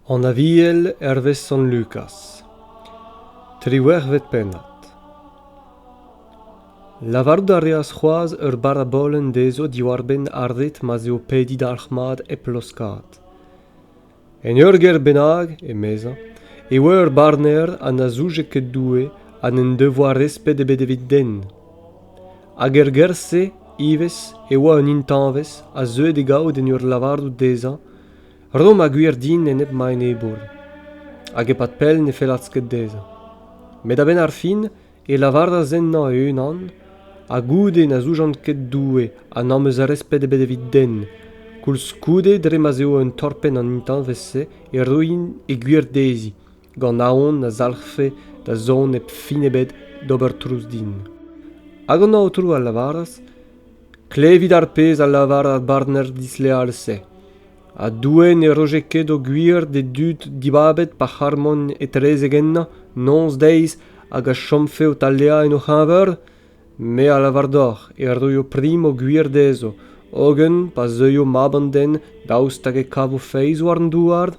An Aviel hervez Sant Lukaz Triwec'hvet pennad Lavarout a reas c'hoazh ur barabolenn dezho diwar-benn ar ret ma'z eo pediñ dalc'hmat hep laoskaat. En ur gêr bennak, emezañ, e oa ur barner ha na zouje ket Doue ha n'en devoa resped ebet evit den. Hag er gêr-se ivez e oa un intañvez a zeue d'e gaout en ur lavarout dezhañ Rom ha gwir din enep ma enebour. Hag e-pad pell ne fellas ket dezhañ. Met a-benn ar fin e lavaras ennañ e-unan ha goude na zoujan ket Doue ha n'am eus resped ebet evit den koulskoude dre ma'z eo un torpenn an intañvez-se e roin e gwir dezhi gant aon na zalc'hfe da zont nep fin ebet d'ober trouz din hag an aotrou a lavaras klevit ar pezh a lavar ar barner disleal-se ha Doue ne roje ket o gwir d'e dud dibabet pa c'harmont etrezek ennañ noz-deiz hag a chomfe o taleañ en o c'heñver? Me a lavar deoc'h e roio prim o gwir dezho, hogen pa zeuio Mab an den daoust hag e kavo feiz war an douar?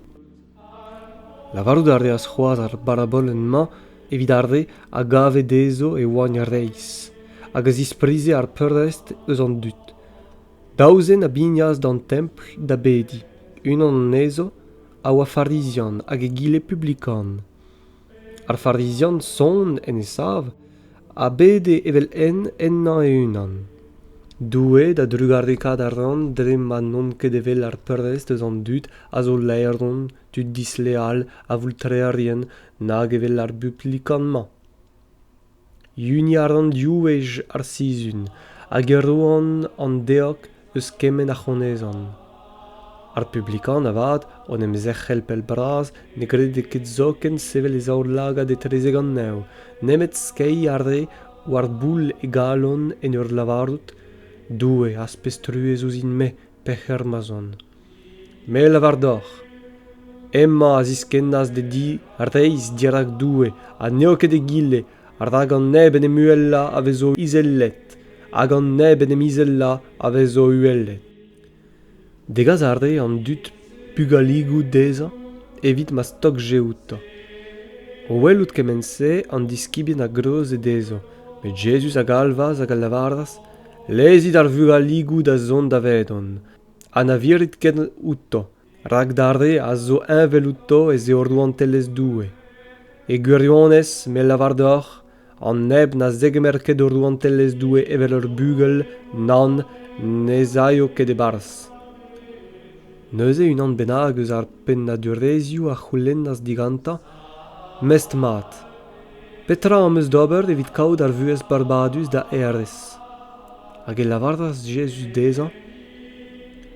Lavarout a reas c'hoazh ar barabolenn-mañ evit ar re a gave dezho e oant reizh hag a zisprize ar peurrest eus an dud. Daou zen a bignas d'an templ da bediñ. Unan anezho a oa Farizian hag egile publikan. Ar Farizian son en e sav a bede evel-henn ennañ e-unan. Doue da drugarekaat a ran dre ma n'on ket evel ar prest eus an dud a zo laeron, tud disleal, avoultreerien, nag evel ar buplikan-mañ. Huniad an div wech ar sizhun hag e roan an deog eus kement a c'honezan. Ar publikan avat, o'n em zerc'hel pell-bras, ne grede ket zoken sevel e zaoulagad etrezek an nev, nemet skeiñ a rae war boull e galon en ur lavarout : Doue az pez truez ouzhin-me, pec'her ma'z on. Me a lavar deoc'h, hemañ a ziskennas d'e di reizh dirak Doue ha n'eo ket egile, rak an neb en em uhelañ a vezo izelet, hag an neb en em izellañ a vezo uhelet. Degas a ree an dud pugaligoù dezhañ evit ma stogje outañ. O welout kement-se, an diskibien a greuje dezhañ, met Jezuz a galvas hag a lavaras lezit ar vugaligoù da zont davedon ha na virit ket outo rak d'ar re a zo heñvel outo ez eo rouantelezh Doue. E gwirionez, me lavar deoc'h, an neb na zegemer ket o rouantelezh Doue evel ur bugel, nann, n'ez aio ket e-barzh. Neuze unan bennak eus ar pennadurezhioù a c'houlennas digantañ mestr-mat. Petra am eus d'ober evit kaout ar vuhez barbadus da hêrez? Hag e lavaras Jezuz dezhañ,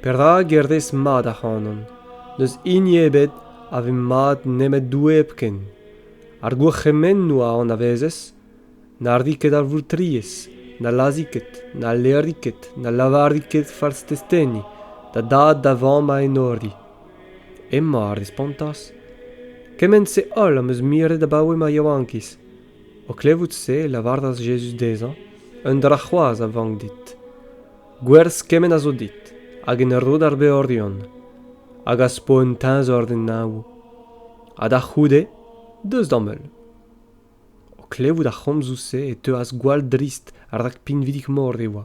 Perak e rez mat ac'hanon? N'eus hini ebet a ve mat nemet Doue hepken. Ar gourc'hemennoù a anavezez na rit ket ar vourtriez, na lazhit ket, na alerit ket, na lavarit ket fals testeni da dad da vamm a enori. Emma a respontas, Kement-se holl am eus miret abaoe ma yaouankiz. O klevout se, e lavaras Jezuz dezhañ, Un dra c'hoazh a vank dit. Gwerz kement a zo dit, hag en ur rod ar beorion, hag az po un teñzor d'en neñvoù. Ha da c'houde, deus d'am heul. O klevout ar c'homzoù-se e teuas gwall drist rak pinvidik-mor e oa.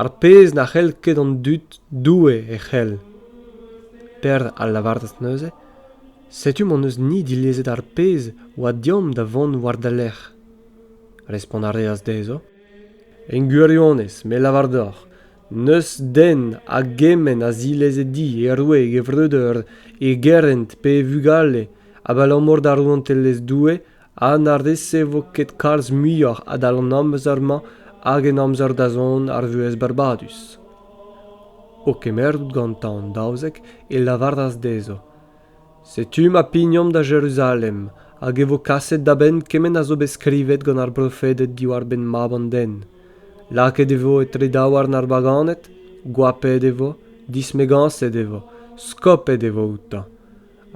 ar pezh na c'hell ket an dud Doue e c'hell. Pêr a lavaras neuze, Setu m'hon eus-ni dilezet ar pezh oa deomp da vont war da lerc'h. Respont a reas dezho, En gwirionez, me lavar deoc'h, n'eus den a gement a zileze di e roue e gevreudeur, e gerent pe e vugale, abalamour da rouantelezh Doue ha na resevo ket kalz muioc'h adal an amzer-mañ hag en amzer-dazont ar vuhez barbadus. O kemeret gantañ an daouzek e lavaras dezho, Setu ma pignomp da Jeruzalem, hag e vo kaset da benn kement a zo bet skrivet gant ar brofeded diwar-benn Mab an den. Lakaet e vo etre daouarn ar baganed, goapet e vo, dismegañset e vo, skopet e vo outañ.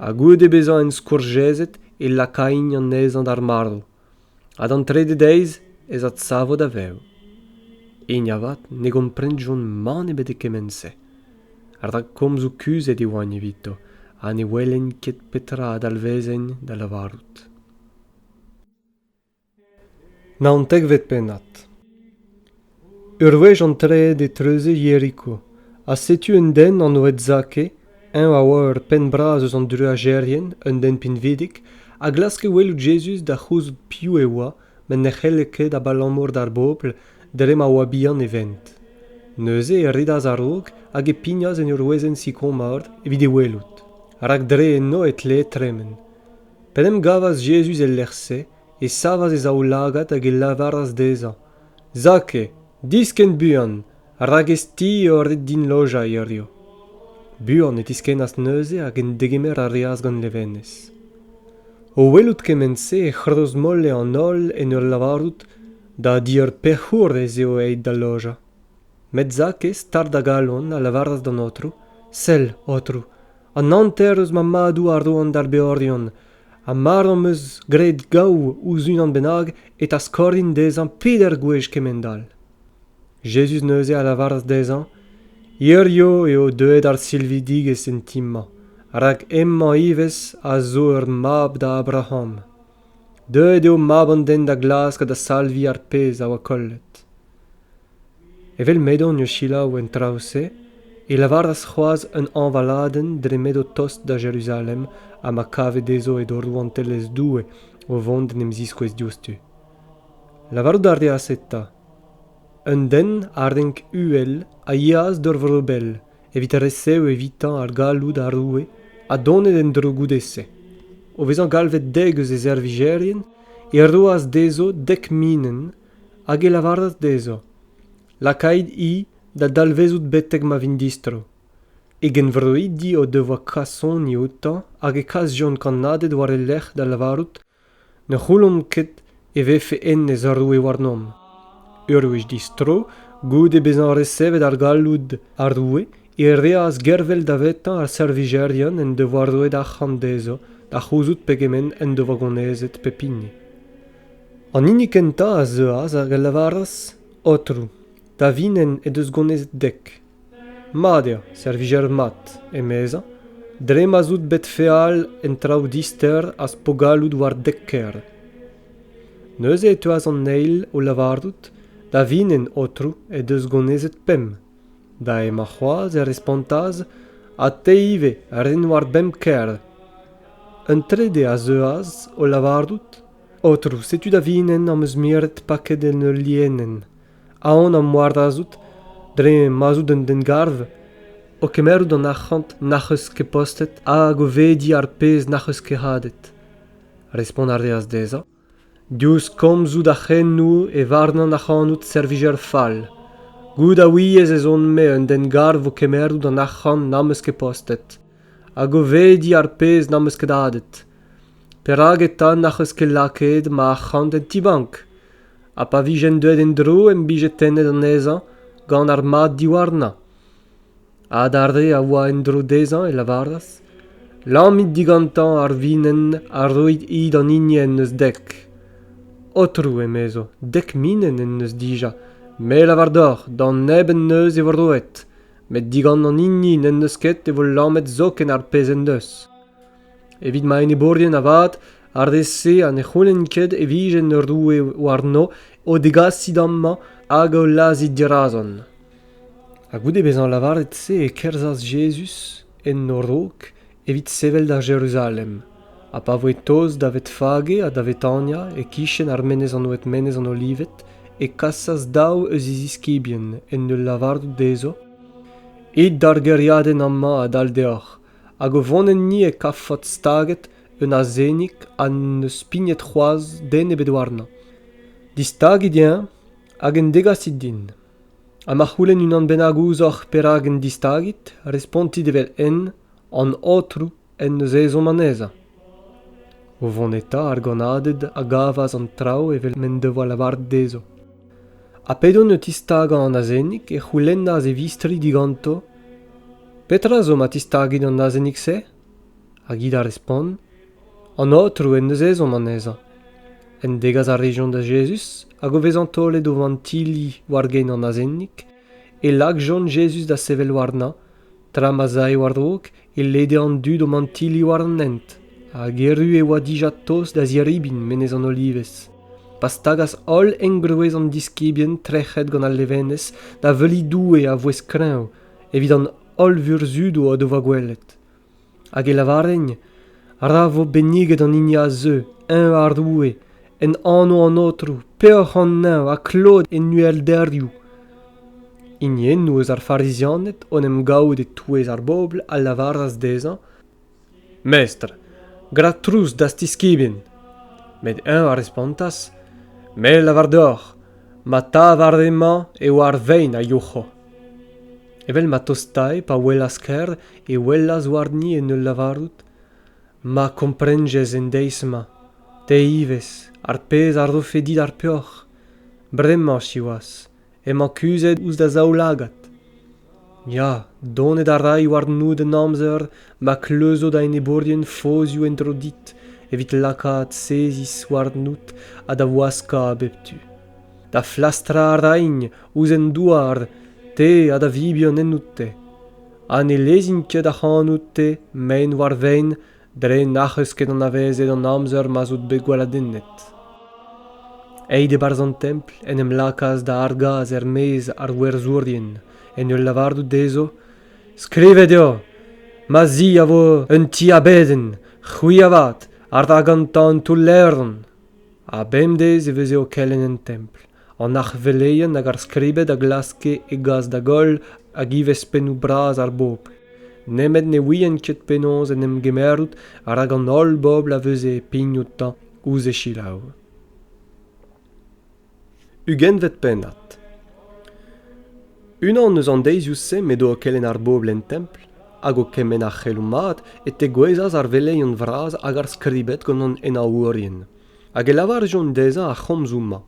ha goude bezañ enskourjezet e lakain anezhañ d'ar marv ha d'an trede deiz ez adsavo da vev hini avat ne gomprenjont mann ebet e kement-se rak komzoù kuzhet e oant evito ha ne welent ket petra a dalvezent da lavarout Naontekvet pennad Ur wech antreet e treuze Yeriko, ha setu un den anvet Zake, eñ a oa ur penn bras eus an druajerien, un den pinvidik, a glaske welout Jezuz da c'houzout piv e oa, met ne c'helle ket abalamour d'ar bobl dre ma oa bihan e vent. Neuze e redas a-raok hag e pignas en ur wezenn sikour-mard evit e welout, rak dre enno e tlee tremen. P'en em gavas Jezuz el lec'h-se, e savas e zaoulagad hag e lavaras dezhañ, Zake, diskenn buan, rak ez ti eo ret din lojañ hiziv. Buan e tiskennas neuze hag en degemer a reas gant levenez. O welout kement-se e c'hrozmolle an holl en ur lavarout da di ur pec'hour ez eo aet da lojañ. Met Zakez, tad da galon, a lavaras d'an Aotrou, Sell, Aotrou, an hanter eus ma madou a roan d'ar beorion, ha mar am eus graet gaou ouzh unan bennak e taskorin dezhañ peder gwech kement-all. Jezuz neuze a lavaras dezhañ, Hirio eo deuet ar silvidigezh en ti-mañ, rak hemañ ivez a zo ur mab da Abraham. Deuet eo mab an den da glask ha da salviñ ar pezh a oa kollet. Evel m'edon o selaou en traoù-se e lavaras c'hoazh un hañvaladenn dre m'edo tost da Jeruzalem ha ma kave dezho edo Rouantelezh Doue o vont d'en em ziskouez diouzhtu. Lavarout a reas eta, Un den a renk uhel a yeas d'ur vro bell evit resev evitañ ar galloud ar roue ha donet en-dro goude-se. O vezañ galvet dek eus e servijerien e roas dezho dek minenn hag e lavaras dezho, Lakait-i da dalvezout betek ma vint distro. E genvroidi o devoa kasoni outañ hag e kasjont kannaded war e lerc'h da lavarout Ne c'houllomp ket e vefe hennezh ur roue warnomp. Ur wech distro, goude bezañ resevet ar galloud ar roue, e reas gervel davetañ ar servijerien en devoa roet arc'hant dezho da c'houzout pegement en devoa gonezet pep hini. An hini kentañ a zeuas hag a lavaras, Aotrou, Tavinenn he deus gounezet dek. Mat eo servijer mat, emezañ, dre ma'z out bet feal en traoù dister az po gallout war dek ker. Neuze e teuas an eil o lavarout, Tavinenn, aotrou, he deus gounezet pemp. Da emañ c'hoazh e respontas, Ha te ivez, ren war bemp ker. Un trede a zeuas o lavarout, Aotrou, setu Tavinenn am eus miret paket en ul lienenn. aon am moardazout dre ma'z out un den-garv o kemerout an arc'hant n'ac'h eus ket postet hag o vediñ ar pezh n'ac'h eus ket hadet. Respont a reas dezhañ, diouzh komzoù da c'henoù e varnan ac'hanout servijer fall. Goût a ouiez ez on-me un den-garv o kemerout an arc'hant n'am eus ket postet hag o vediñ ar pezh n'am eus ket hadet. Perak eta n'ac'h eus ket lakaet ma arc'hant en ti-bank? ha pa vijent deuet en-dro em bije tennet anezhañ gant ar mad diwarnañ. Hag ar re a oa en-dro dezhañ e lavaras Lammit digantañ ar vinenn ha roit hi d'an hini en deus dek. Aotrou, emezo, dek minenn en deus dija, me lavar deoc'h, d'an neb en deus e vo roet, met digant an hini n'en deus ket e vo lammet zoken ar pezh en deus. Evit ma enebourien avat, ar re-se ha ne c'houlenn ket e vijent ur roue warno o degasiñ amañ hag o lazhiñ dirazon. Ha goude bezañ lavaret-se e kerzhas Jezuz en o raok evit sevel da Jeruzalem. Ha pa voe tost da Vetfage ha da Vetania, e-kichen ar menez anvet Menez an Olived, e kasas daou eus e ziskibien en ul lavarout dezho, It d'ar gêriadenn amañ adal deoc'h, hag o vont enni e kavfot staget un azenig ha n'eus pignet c'hoazh den ebet warnañ. Distagit eñ hag en degasit din. Ha ma c'houlenn unan bennak ouzhoc'h perak en distagit, respontit evel-henn an Aotrou en deus ezhomm anezhañ. O vont eta, ar gannaded a gavas an traoù evel m'en devoa lavaret dezho. Ha p'edont o tistagañ an azenig, e c'houlennas e vistri diganto Petra zo ma tistagit an azenig-se? Hag hi da respont, An Aotrou en deus ezhomm anezhañ. En degas a rejont da Jezuz hag o vezañ taolet o vantili war gein an azenig, e lakjont Jezuz da sevel warnañ, tra ma 'z ae war-raok e lede an dud o mantili war an hent, hag erru e oa dija tost da ziribin menez an Olivez, pa stagas holl engroez an diskibien trec'het gant al levenez da veuliñ Doue a vouezh kreñv evit an holl vurzhudou o devoa gwelet. Hag e lavarent, Ra vo benniget an hini a zeu, eñ ar Roue, en anv an Aotrou, peoc'h an neñv ha klod en uhelderioù. Hiniennou eus ar Farizianed, en em gavout e-touez ar bobl, a lavaras dezhañ, Mestr, gra trouz d'az tiskibin. Met eñ a respontas, Me lavar deoc'h, ma tad ar re-mañ eo ar vein a youc'ho. Evel ma tostae pa welas Ker e welas warni en ul lavarout Ma komprenjez en deiz-mañ, te ivez, ar pezh a rofe dit ar peoc'h. Bremañ, siwazh, emañ kuzhet ouzh da zaoulagad. Ya, donet a ray warnout en amzer ma kleuzo da enebourien fozioù en-dro dit evit lakaat seziz warnout ha da waskañ bep tu. Da flastrañ a raint ouzh an douar, te ha da vibian ennout-te. Ha ne lezint ket ac'hanout-te mein war vein dre n'ac'h eus ket anavezet an amzer ma'z out bet gweladennet. Aet e-barzh an templ en em lakaas da argas er-maez ar werzhourien en ul lavarout dezho Skrivet eo ma zi a vo un ti abedenn, c'hwi avat, a ra gantañ un toull-levron. Ha bemdez e veze o kelenn en templ, an arc'hveleien hag ar skribed a glaske e gas da goll hag ivez pennoù bras ar bobl nemet ne ouient ket penaos en em gemerout rak an holl bobl a veze pign outañ ouzh e selaou ugentvet pennad unan eus an deizioù-se m'edo o kelenn ar bobl en templ hag o kemenn ar c'heloù mat e tegouezhas ar veleion vras hag ar skribed gant an henaourien hag e lavarjont dezhañ ar c'homzoù-mañ.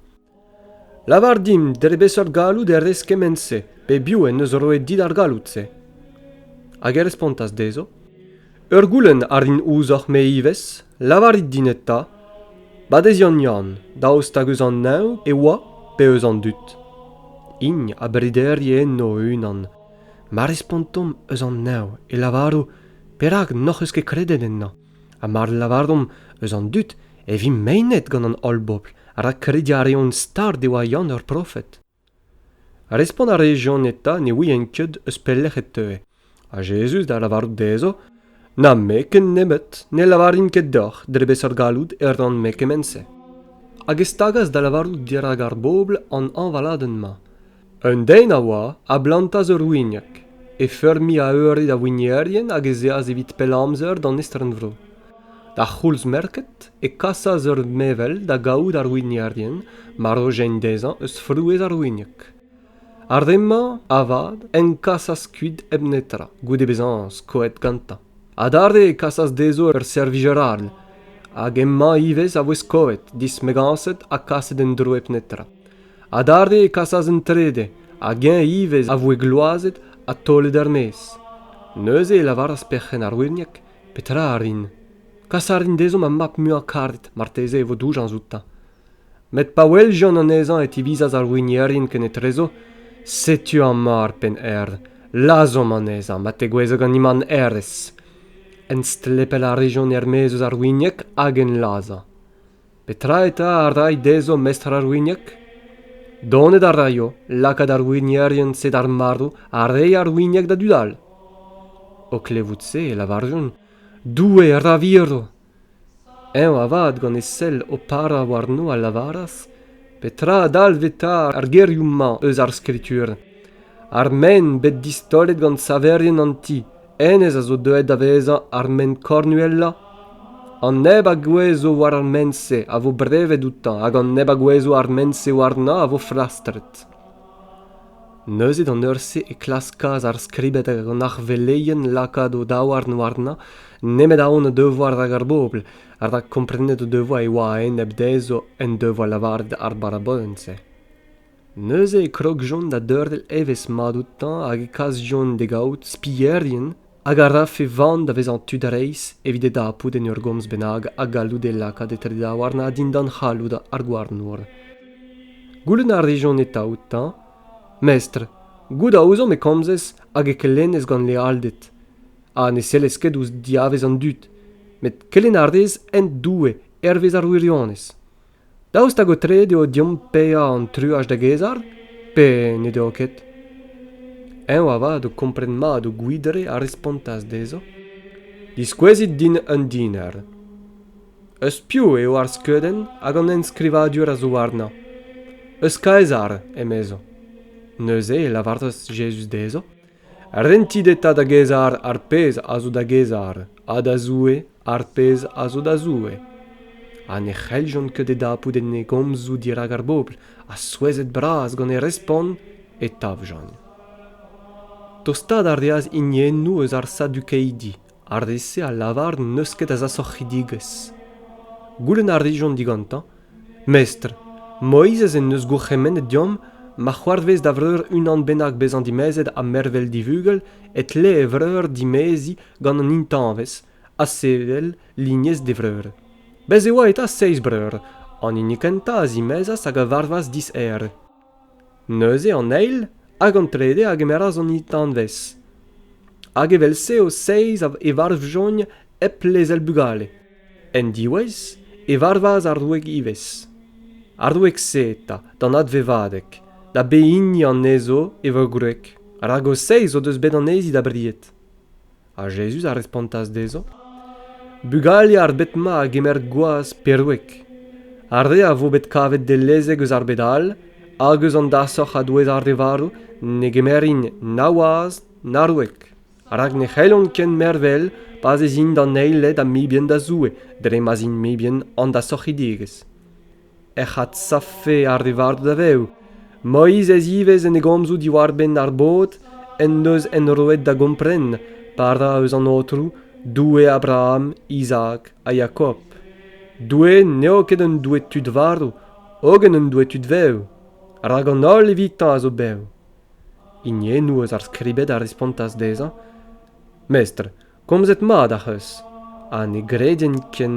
Lavar dimp dre beseurt galloud e rez kement-se, pebiou en deus roet dit ar galloud-se. Hag e respontas dezho, Ur goulenn a rin ouzhoc'h me ivez, lavarit din eta, Badeziant Yann, daoust hag eus an neñv e oa pe eus an dud? Hini a brederi enno o-unan. Ma respontomp eus an neñv e lavaro, Perak n'hoc'h eus ket kredet ennañ? ha mar lavarimp eus an dud e vimp meinet gant an holl bobl rak krediñ a reont start e oa Yann ur profed. Respont a rez Yann eta ne ouien ket eus pelec'h e teue, ha Jezuz da lavarout dezho Na me ken nemet ne lavarin ket deoc'h dre beseurt galloud e ran-me kement-se. Hag e stagas da lavarout dirak ar bobl an hañvaladenn-mañ. Un den a oa a blantas ur winieg, e feurmiñ a eure da winierien hag ez eas evit pell amzer d'an estren-vro. D'ar c'houlz-merket e kasas ur mevel da gavout ar winierien marozhent dezhañ eus frouezh ar winieg. Ar re-mañ, avat, en kasas kuit hep netra, goude bezañ skoet gantañ. Adarre e kasas dezho ur servijer all, hag emañ ivez a voe skoet, dismegañset ha kaset en-dro hep netra. Adarre e kasas an trede, hag eñ ivez a voe gloazet ha taolet er-maez. Neuze e lavaras perc'henn ar wirgneg, Petra a rin? Kas a rin dezhoñ ma mab muiañ karet, marteze e vo doujañs outañ. Met pa weljont anezhañ e tivizas ar wignerien kenetrezo, Setu amañ ar penn-erv, lazhomp anezhañ ma tegouezho ganin an herrez. Enstlepel a rejont er-maez eus ar wignek hag en lazhañ. Petra eta a ray dezho mestr ar winieg? Donet a raio lakaat ar wignerien-se d'ar marv ha reiñ ar winieg da dud all. O klevout se e lavarjont, Doue ra viro! Eñ avat, gant e sell o parañ warno, a lavaras, Petra a dalv eta ar gerioù-mañ eus ar Skritur? Ar men bet distaolet gant saverien an ti, hennezh a zo deuet da vezañ ar ment kornuellañ an neb a gouezho war ar ment-se a vo brevet outañ hag an neb a gouezho ar ment-se warnañ a vo flastret neuze d'an eur-se e klaskas ar skribed hag an arveleien lakaat o daouarn warnañ nemet aon o devoa rak ar bobl ha rak komprenet o devoa e oa a-enep dezho en devoa lavaret ar barabolenn-se Neuze e krogjont da deurel evezh-mat outañ hag e kasjont d'e gaout spilherien hag a rafe van da vezañ tud reizh evit e dapout en ur gomz bennak ha gallout e lakaat etre-daouarn dindan c'halloud ar gouarnour. Goulenn a rejont eta outañ, Mestr, goût a ouzomp e komzez hag e kelennez gant lealded, ha ne sellez ket ouzh diavez an dud, met kelenn a rez hent Doue hervez ar wirionez. Daoust hag aotreet eo deomp paeañ an truaj da gaezhal pe ne deo ket? Eñ avat o kompren mat o gwidre a respontas dezho: Diskouezit din un diner. Eus piv eo ar skeudenn hag an enskrivadur a zo warnañ? Eus Kaesar, emezañ. Neuze e lavaras Jezuz dezho: Rentit eta da Gezar ar pezh a zo da Gezar ha da Zoue ar pezh a zo da Zoue. Ha ne c'helljont ket e dapout en e gomzoù dirak ar bobl, ha souezhet-bras gant e respont, e tavjont. Tostaat a reas hiniennoù eus ar sadukeidi Ar re-se a lavar n'eus ket a zasoc'hidigezh. Goulenn a rijont digantañ, Mestr, Moizez en deus gourc'hemennet deomp ma c'hoarvez da vreur unan bennak bezañ dimezet ha mervel divugel e tle e vreur dimeziñ gant an intañvez ha sevel lignez d'e vreur. Bez' e oa eta seizh breur, an hini kentañ a zimezas hag a varvas diser. Neuze an eil hag an trede a gemeras an intanvez, hag evel-se o seizh e varvjont hep lezel bugale. En diwezh e varvas ar roue ivez. Ar roue-se eta, d'an advevadeg, da behini anezho e voe gwreg, rak o seizh o deus bet anezhi da bried. Ha Jezuz a respontas dezhañ, Bugale ar bed-mañ a gemer gwaz perweg. Ar re a vo bet kavet dellezek eus ar bed all hag eus an dasoc'h a-douez ar re varv ne gemerint na waz na roueg, rak ne c'hellont ken mervel pa'z ez int an eiled ha mibien da Zoue dre ma'z int mibien an dasorc'hidigezh. ec'h adsavfe ar re varv da vev. Moizez ivez en e gomzoù diwar-benn ar bod en deus enroet da gompren pa ra eus an Aotrou, Doue Abraham, Izaak ha Jakob. Doue n'eo ket un doue tud varv, hogen un doue tud vev, rak an holl evitañ a zo bev. Hiniennoù eus ar Skribed a respontas dezhañ, Mestr, Komzet mat ac'h eus ha ne greden ken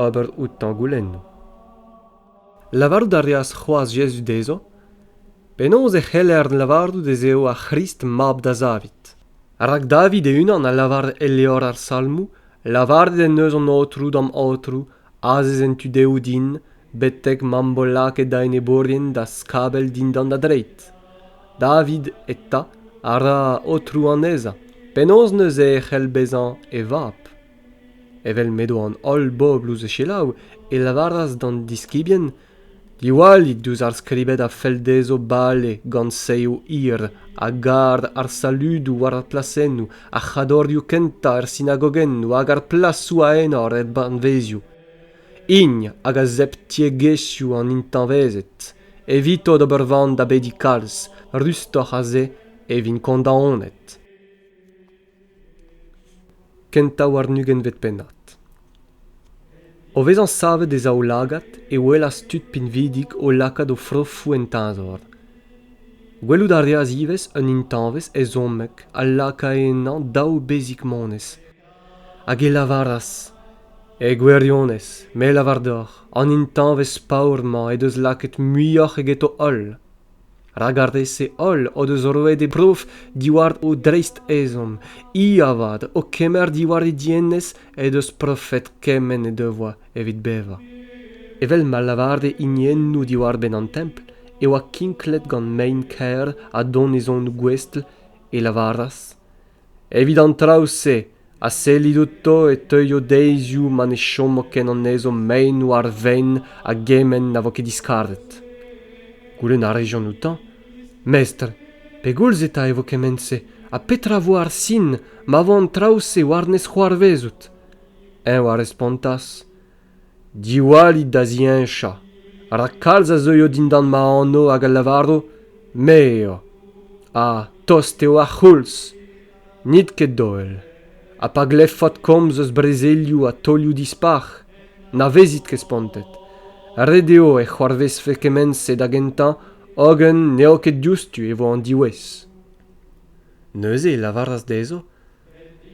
ober outañ goulennoù. Lavarout a reas c'hoazh Jezuz dezho penaos e c'heller lavarout ez eo ar C'hrist mab da Zavid. Rak David e-unan a lavar e levr ar Salmoù, Lavaret en deus an Aotrou d'am Aotrou azez en tu dehoù din betek m'am bo lakaet da enebourien da skabell dindan da dreid david eta a ra aotrou anezhañ penaos neuze e c'hell bezañ e vab evel m'edo an holl bobl ouzh e selaou e lavaras d'an diskibien Diwallit diouzh ar skribed a fell dezho bale gant seizh hir a gar ar saludoù war ar plasennoù, ar c'hadorioù kentañ er sinagogennoù hag ar plasoù a enor er banvezioù. Hini hag a zep tiegezhioù an intañvezed. Evito d'ober van da bediñ kalz, rustoc'h a-se e vint kondaonet. Kentañ war un ugentvet pennad. O vezañ savet e zaoulagad e welas tud pinvidik o lakaat o frofoù en teñzor. Gwelout a reas ivez un intañvez ezhommek a lakae ennañ daou bezig-monez, hag e lavaras: E gwirionez, me 'lavar deoc'h, an intañvez paour-mañ he deus lakaet muioc'h eget o holl. rak ar re-se holl o deus roet e brof diwar o dreist-ezhomm hi avat o kemer diwar he dienez he deus profet kement he devoa evit bevañ evel ma lavare hiniennoù diwar-benn an templ e oa kinklet gant mein-kaer ha donezonoù gouestl e lavaras evit an traoù-se a sellit outo e teuio deizioù ma ne chomo ken anezho meinv ar vein a gement na vo ket diskaret goulenn a rejont outañ mestr pegoulz eta e vo kement-se ha petra vo ar sin ma vo an traoù-se war-nes c'hoarvezout eñ a respontas diwallit da ziheñchañ rak kalz a zeuio dindan ma anv hag a lavaro me eo ha tost eo ar c'houlz n'it ket doell ha pa glevfot komz eus brezelioù ha taolioù dispar na vezit ket spontet ret eo e c'hoarvezfe kement-se da gentañ hogen n'eo ket diouzhtu e vo an diwezh neuze e lavaras dezho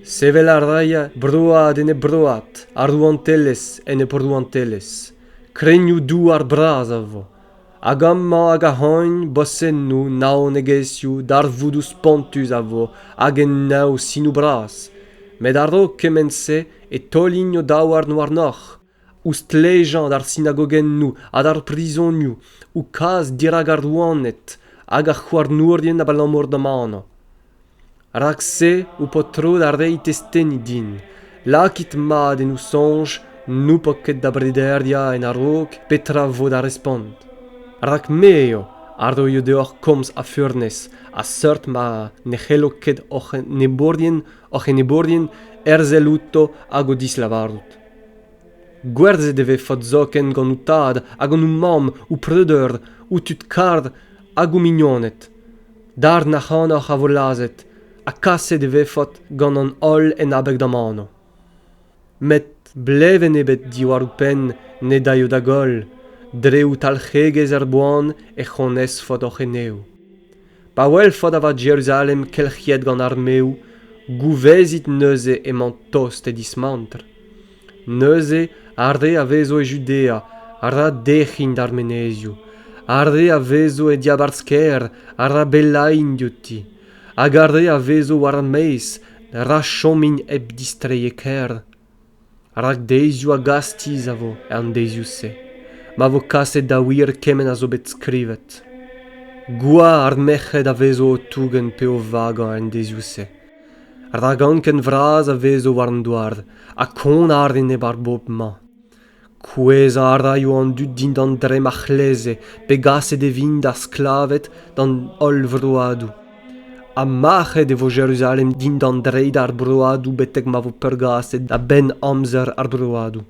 Sevel a rae broad ene broad ar rouantelezh en he brouantelezh. Krennioù-douar bras a vo, hag amañ hag ahont bosennoù, naonegezhioù, darvoudoù spontus a vo hag enaoù sinoù bras. Met a-raok kement-se e taolin o daouarn warnoc'h. Ouzh stlejañ d'ar sinagogennoù ha d'ar prizonioù, o kas dirak ar rouaned hag ar c'houarnourien abalamour d'am anv. Rak-se ho po tro da reiñ testeni din. Lakit mat en ho soñj n'ho po ket da brederiañ en a-raok petra vo da respont. Rak me eo a roio deoc'h komz a furnez, a seurt ma ne c'hello ket hoc'h enebourien hoc'h enebourien herzel outo hag o dislavarout. Gwerzhet e vez faot zoken gant ho tad ha gant ho mamm, ho preudeur, ho tud kar hag ho mignoned. Darn ac'hanoc'h a vo lazhet ha kaset e vez faot gant an holl en abeg d'am anv. Met blevenn ebet diwar ho penn ne daio da goll, dre ho talc'hegezh er boan ec'h onez faot hoc'h eneoù. Pa welfot avat Jeruzalem kelc'hiet gant armeoù, gouvezit neuze emañ tost e dismantr. Neuze ar re a vezo e Judea a ra dec'hin d'ar menezioù, ar re a vezo e diabarzh-kêr a ra bellain diouti, hag ar re a vezo war ar maez ra chomin hep distreiñ e kêr. rak deizioù a gastiz a vo er deizioù-se ma vo kaset da wir kement a zo bet skrivet gwa ar merc'hed a vezo o tougen pe o vagañ en deizioù-se rak anken vras a vezo war an douar ha kont a rin e-bar bobl-mañ Kouezhañ a raio an dud dindan dremm ar c'hleze pegaset e vint d'ar sklaved d'an holl vroadoù. Ha mac'het e vo Jeruzalem dindan dreid ar broadoù betek ma vo peurgaset a-benn amzer ar broadoù.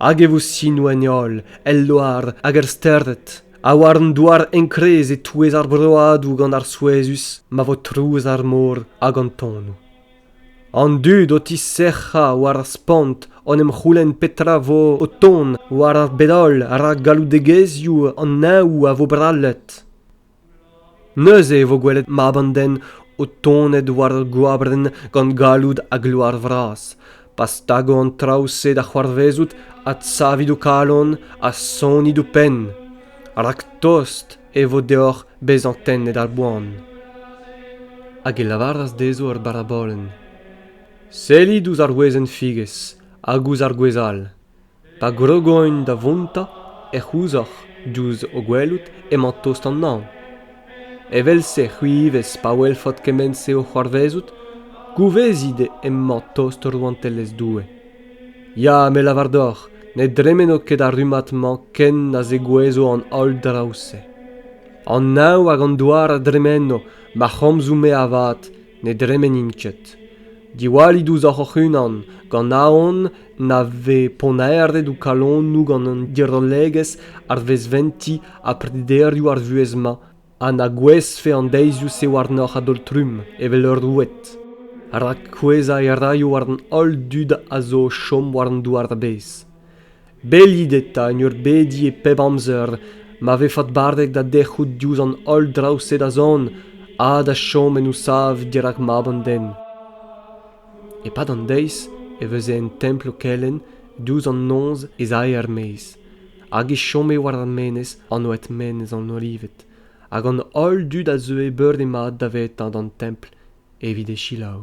Hag e vo sinoù en e holl, el loar hag er stered, ha war an douar enkrez e-touez ar broadoù gant ar souezhus ma vo trouz ar mor hag an tonnoù. An dud o tisec'hañ war ar spont en em c'houlenn petra 'vo o tont war ar bed-holl rak galloudegezhioù an Neñv a vo brallet. Neuze e vo gwelet mab an den o tonet war ur gwabenn gant galloud ha gloar vras. pa stago an traoù-se da c'hoarvezout adsavit ho kalon ha sonit ho penn rak tost e vo deoc'h bezañ tennet ar boan. Hag e lavaras dezho ar barabolenn: Sellit ouzh ar wezenn-figez hag ouzh ar gwez all. Pa grogoin da vontañ ec'h ouzoc'h diouzh ho gwelout emañ tost an Neñv. Evel-se c'hwi ivez pa welfot kement-se o c'hoarvezout, gouvezit emañ tost Rouantelezh Doue. Ya, me lavar deoc'h, ne dremeno ket ar rummad-mañ ken na zegouezho an holl draoù-se. An Neñv hag an douar a dremeno, ma c'homzoù-me avat ne dremenint ket. Diwallit ouzhoc'h hoc'h-unan, gant aon na vez ponnaerdet ho kalonoù gant an dirollegezh arvezventiñ ha prederioù ar vuhez-mañ ha na gouezhfe an deizioù-se warnoc'h a-daol-trumm evel ur roued rak kouezhañ e raio war an holl dud a zo o chom war an douar-bez bellit eta en ur bediñ e pep amzer ma vez faotbardet da dec'hout diouzh an holl draoù-se da zont ha da chom en ho sav dirak mab an den E-pad an deiz e veze en templ o kelenn douzh an noz ez ae er-maez hag e chome war ar menez anvet Menez an Olived hag an holl dud a zeue beure-mat davetañ d'an templ evit e selaou.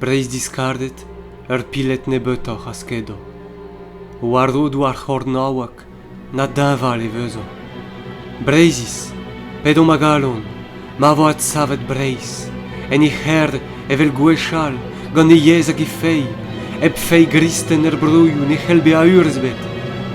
Breizh-diskardet, ur piled nebeutoc'h a skedo. War rodoù ar c'hornaoueg, na deñval e vezo. Breizhiz, p'edomp a galon, ma vo adsavet Breizh, en he c'herr evel gwechall, gant he yezh hag he feiz, hep feiz gristen er broioù ne c'hell bezañ urzh ebet.